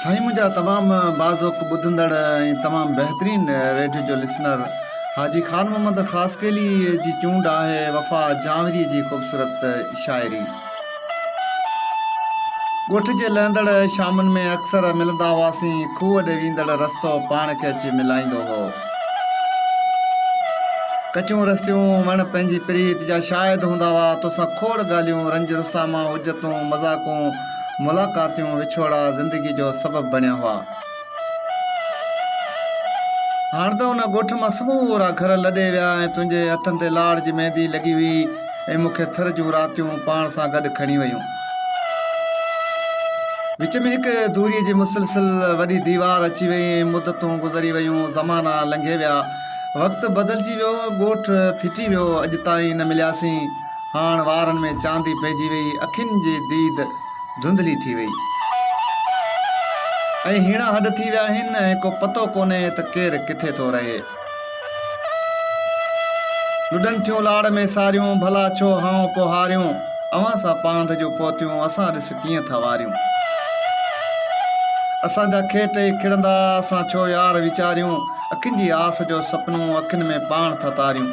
سائين منهنجا تمام باذوق ٻڌندڙ ۽ تمام بهترين ريڊيو جو لسنر حاجي خان محمد خاصخيلي جي چونڊ آهي وفا جانوري جي خوبصورت شاعري ڳوٺ جي لهندڙ شامن ۾ اڪثر ملندا هئاسين کوهه ڏي ويندڙ رستو پاڻ کي اچي ملائيندو هو ڪچون رستيون وڻ پنهنجي پريت جا شاهد هوندا هئا توسان کوڙ ڳالهيون رنج رساما حجتون مذاقون ملاقاتيون وڇوڙا زندگي جو سبب بڻيا هئا. هاڻ ته ان ڳوٺ مان سمورا گهر لڏي ويا ۽ تنهنجي هٿن تي لاڙ جي ميندي لڳي هئي ۽ مون کي ٿر جون راتيون پاڻ سان گڏ کڻي ويون. وچ ۾ هڪ دوريء جي مسلسل وڏي ديوار اچي وئي ۽ مدتون گذري ويون، زمانا لنگهي ويا. وقت بدلجي ويو، ڳوٺ ڦٽي ويو، اڄ تائين نه ملياسين. هاڻ وارن ۾ چاندي پئجي ويئي، اکين جي ديد ڌنڌلي ٿي ويئي ۽ هيڻا هڏ ٿي ويا آهن ۽ ڪو پتو ڪونهي ته ڪير ڪٿي ٿو رهي. لڏن ٿيون لاڙ ۾ ساريون، ڀلا ڇو هانء پوهاريون، اوهان سان پانڌ جون پوتيون، اسان ڏس ڪيئن ٿا واريون. اسان جا کيٽ ئي کڙندا، اسان ڇو يار ويچاريون، اکين جي آس جو سپنو، اکين ۾ پاڻ ٿا تاريون.